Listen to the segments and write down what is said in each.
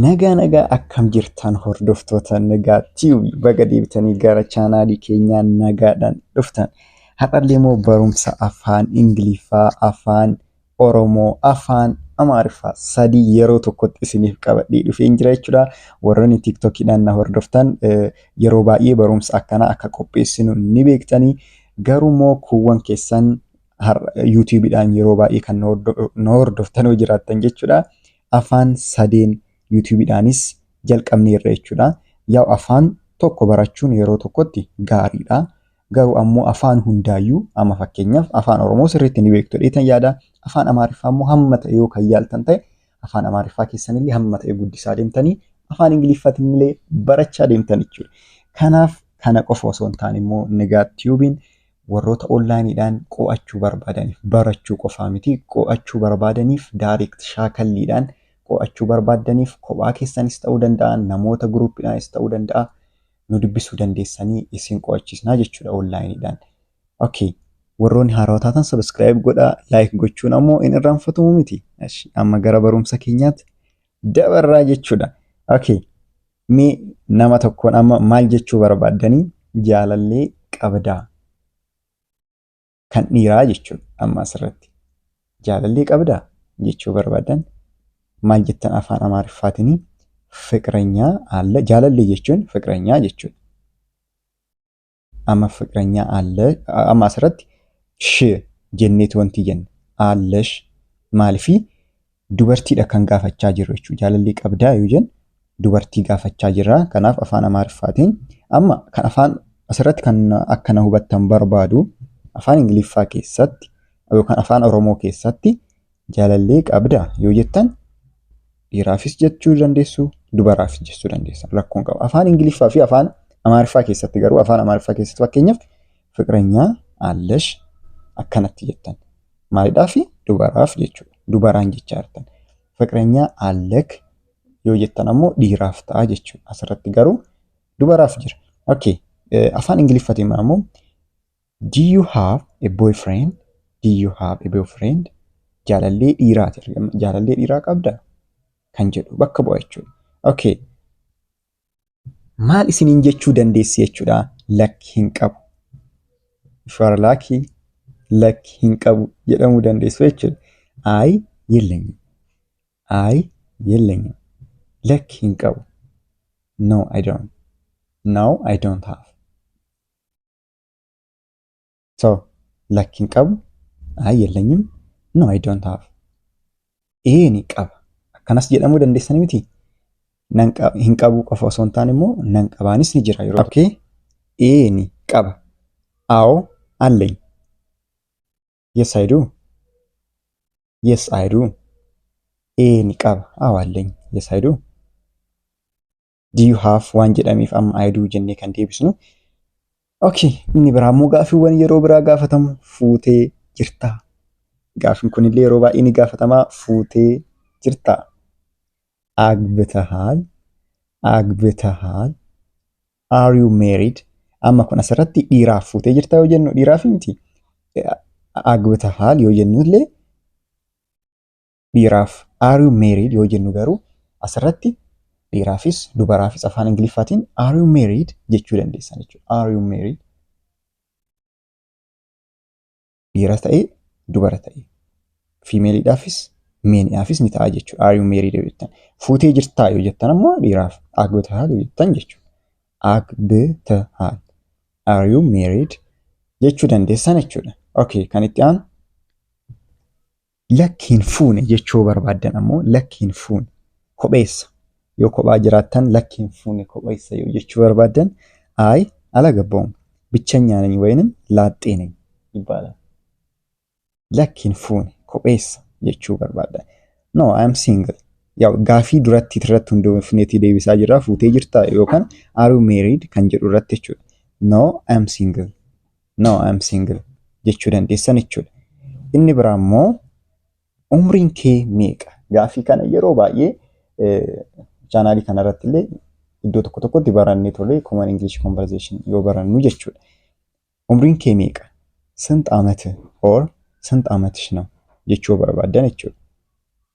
Nagaa nagaa akkam jirtan hordoftoota nagaa tiyubi baga deebitanii gara chaanaalii keenyaa nagaadhaan dhuftan. Har'allee immoo barumsa afaan Ingiliffaa, afaan Oromoo, afaan Amaariffaa sadii yeroo tokkotti isiniif qabadhee dhufeen jira jechuudha. Warroonni TikTokiidhaan na hordoftan eh, yeroo baay'ee barumsa akkanaa akka qopheessinu ni beektanii. Garuu immoo kuuwwan keessan yuutuubiidhaan yeroo baay'ee kan na hordoftan yoo jiraattan jechuudha. Afaan sadeen yuutuubiidhaanis jalqabneerra jechuudha. Yaa afaan tokko barachuun yeroo tokkotti gaariidha. Garuu ammoo afaan hundaayyuu amma fakkeenyaaf afaan Oromoo sirriitti ni beektu dheetan yaada. Afaan Amaariffaa immoo hamma ta'e yoo kan yaaltan ta'e afaan Amaariffaa keessanillee hamma ta'e guddisaa deemtanii afaan Ingiliffatillee barachaa deemtan jechuudha. Kanaaf kana qofa osoo hin taane immoo Nigaat Tiyuubiin warroota online dhaan qo'achuu barbaadaniif barachuu qofaa miti qo'achuu barbaadaniif direct shaakalliidhaan qo'achuu barbaaddaniif kophaa keessanis ta'uu danda'a namoota group dhaanis ta'uu danda'a nu dubbisuu dandeessanii isin qo'achiisnaa jechuudha online dhaan. Okay. Warroonni haarawaa taatan subscribe godhaa like gochuun ammoo hin irraanfatamu miti. Amma gara barumsa keenyaatti dabarraa jechuudha. Okay. Mee nama tokkoon amma maal jechuu barbaaddanii jaalallee qabdaa kan dhiiraa jechuudha amma asirratti. Jaalallee qabdaa jechuu barbaaddan maal jettan afaan amaariffaatiin fiqiranyaa alla jaalallee jechuun fiqiranyaa jechuudha. ama fiqranyaa alle ama asirratti sh jenneeti wantii jenne allesh maalifi dubartiidha kan gaafachaa jirru jechuudha jaalallii qabdaa yoo jennu dubartii gaafachaa jirra kanaaf afaan amaariffaatiin amma kan afaan asirratti kan akkana hubattan barbaadu afaan ingiliffaa keessatti yookaan afaan oromoo keessatti Jaalallee qabdaa yoo jettan dhiiraafis jechuu dandeessu dubaraafis jechuu dandeessan rakkoon qaba. Afaan Ingiliffaa fi afaan Amaariffaa keessatti garuu afaan Amaariffaa keessatti fakkeenyaaf fiqiranyaa allash akkanatti jettan maalidhaa fi dubaraaf jechuudha dubaraan jechaa jirtan fiqiranyaa allek yoo jettan ammoo dhiiraaf ta'a jechuudha asirratti garuu dubaraaf jira. Okay. Afaan Ingiliffaatiin ammoo Do you have a boyfriend? Do you have a boyfriend? Jaalallee dhiiraati argama. Jaalallee dhiiraa qabda? Kan jedhu bakka bu'a jechuudha. Okay. Maal isiniin jechuu dandeessi jechuudha? Lakki hin qabu. If you are lucky, lakki hin qabu jedhamuu dandeessu jechuudha. Ayi yellanyim. Ayi yellanyim. Lakki hin qabu. No, I don't. No, I don't have. So, lakki hin qabu. Ayi yellanyim. No, I don't have. Ee ni qaba. Akkanas jedhamuu dandeessanii miti. Nan qaba, hin qabu qofa osoo hin taane immoo nan qabaanis ni jira yeroo tokko. Ee ni qaba. Awo allay. Yes, I do. Yes, I do. Ee ni qaba. Awo allay. Yes, I do. do you have waan jedhameef amma I do jennee kan deebisnu. Okay, inni biraa immoo gaaffiiwwan yeroo biraa gaafatamu fuutee jirtaa. Gaaffiin kunillee yeroo baay'ee ni gaafatamaa fuutee jirtaa. Agbitahaal, agbitahaal, are you married? Amma kun asirratti dhiiraaf fuutee jirtaa yoo jennu dhiiraaf miti. Agbitahaal yoo jennullee dhiiraaf are you married yoo jennu garuu asirratti dhiiraafis dubaraafis afaan ingiliffaatiin are you married jechuu dandeessan jechuudha. Are you married? Dhiira ta'e dubara ta'e fiimeeliidhaafis meeniidhaafis ni ta'a jechuudha. Are you married yoo jettan fuutee jirtaa yoo jettan ammoo dhiiraaf agbtahaal yoo jettan jechuudha. Agbtahaal are you married jechuu dandeessan jechuudha. Okay kan itti aanu Lakki hin fuune jechuu yoo barbaaddan ammoo lakki hin fuune kopheessa yoo kophaa jiraattan lakki hin fuune kopheessa yoo jechuu barbaaddan ayi alagabbawum bichanyaa nany wayinim laaxxee nany ይባላል lakki hin fuune kopheessa jechuu barbaaddan no I am single yaw gaafii duratti irratti hundoofneetii deebisaa jirra fuutee jirtaa yookaan are you married kan jedhu irratti jechuudha no I am single no I'm single jechuu dandeessan jechuudha. Inni biraa immoo umriin kee meeqa? Gaafii kana yeroo baay'ee chaanaalii kana irratti illee iddoo tokko tokkotti barannee tolee common English conversation yoo barannu jechuudha. Umriin kee meeqa? Sint amat or sint amatsh ነው jechuu barbaadan jechuudha.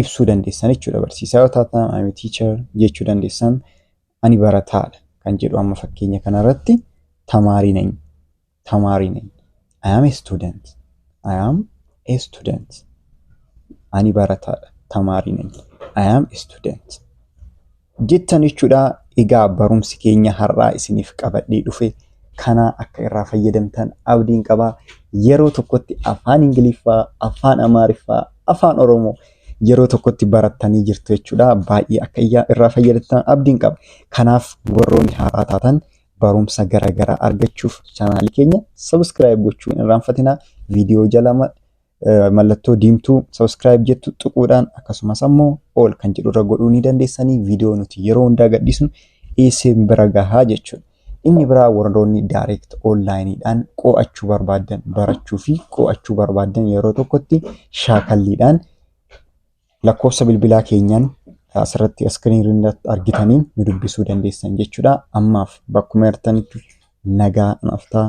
ibsuu dandeessan jechuudha. Barsiisaa yoo taatan I'm a teacher jechuu dandeessan ani barataadha kan jedhu amma fakkeenya kanarratti tamaarii nany tamaarii nany I am a student I am a student ani barataadha tamaarii nany I am a student jettan jechuudha. Egaa barumsi keenya har'aa isiniif qabadhee dhufe kanaa akka irraa fayyadamtan abdiin qaba. Yeroo tokkotti afaan Ingiliffaa, afaan Amaariffaa, afaan Oromoo yeroo tokkotti barattanii jirtu jechuudha. Baay'ee akka irraa fayyadamtan abdiin qaba. Kanaaf warroonni haaraa taatan barumsa garaagaraa argachuuf chaanaalii keenya sabiskiraayib gochuu hin irraanfatinaa. Viidiyoo jalama mallattoo diimtuu subscribe jettu tuquudhaan akkasumas ammoo all kan jedhu irra godhuu ni dandeessanii viidiyoo nuti yeroo hundaa gadhiisnu isin bira gahaa jechuudha. Inni biraa warroonni direct online dhaan qo'achuu barbaaddan barachuu fi qo'achuu barbaaddan yeroo tokkotti shaakalliidhaan lakkoofsa bilbilaa keenyaan asirratti iskiriin irratti argitaniin nu dubbisuu dandeessan jechuudha. Ammaaf bakkuma jirtanitti nagaa naaf ta'aa.